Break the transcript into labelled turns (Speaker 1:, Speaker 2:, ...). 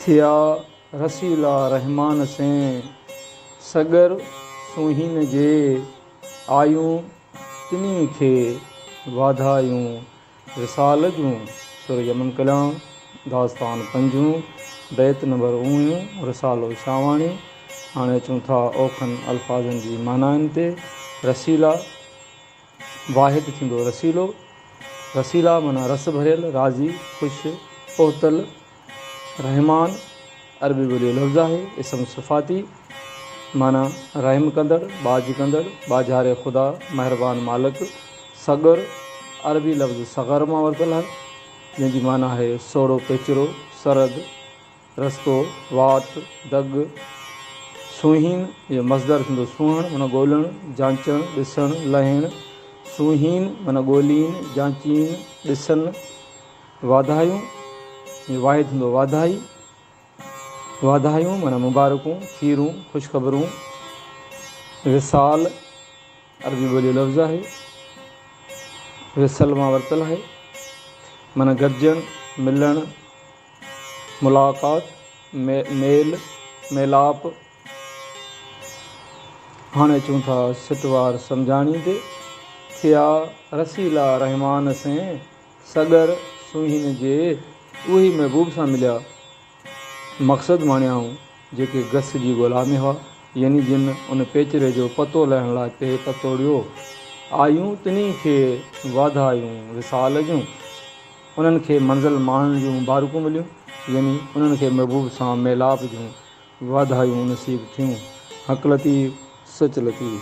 Speaker 1: ٿيا رسيلا رحمان سين سڳر سونهين جي آيون تنهي کي واڌايون وصال جون سر يمن ڪلام داستان پنجون بيت نمبر اوڻيون رسالو شاهواڻي هاڻي اچون ٿا اوکن الفاظن جي معنائن تي رسيلا واحد ٿيندو رسيلو، رسيلا معنيٰ رس ڀريل، راضي، خوش، پهتل، رحمان، عربي ٻوليء جو لفظ آهي، اسم صفاتي، معنيٰ رحم ڪندڙ، ٻاجهه ڪندڙ، ٻاجهاري خدا، مهربان مالڪ، صغر، عربي لفظ صغر مان ورتل آهي، جنهن جي معنيٰ آهي سوڙهو پيچرو، سرد، رستو، واٽ، دڳ، سونهين جو مصدر ٿيندو سونهڻ معنيٰ ڳولڻ، جانچڻ، ڏسڻ، لهڻ، سونهين معنيٰ ڳولين، جانچين، ڏسن، واڌايون جو واحد ٿيندو واڌائي، واڌايون معنيٰ مبارڪون، کيرون، خوشخبرون، وصال عربي ٻوليء جو لفظ آهي، وصل مان ورتل آهي، معنيٰ گڏجڻ، ملڻ، ملاقات، ميل ميلاپ، هاڻي اچون ٿا سٽ وار سمجهاڻي تي، ٿيا رسيلا رحمان سين، سڳر سونهين جي اهي محبوب سان مليا، مقصد ماڻيائون، جيڪي گس جي ڳولا ۾ هئا، يعني جن ان پيچري جو پتو لهڻ لاء پي پتوڙيو، آيون تنهين کي واڌايون وصال جون. انهن کي منزل ماڻڻ جون مبارڪون مليون يعني انهن کي محبوب سان ميلاپ جون واڌايون نصيب ٿيون حق لطيف سچ لطيف.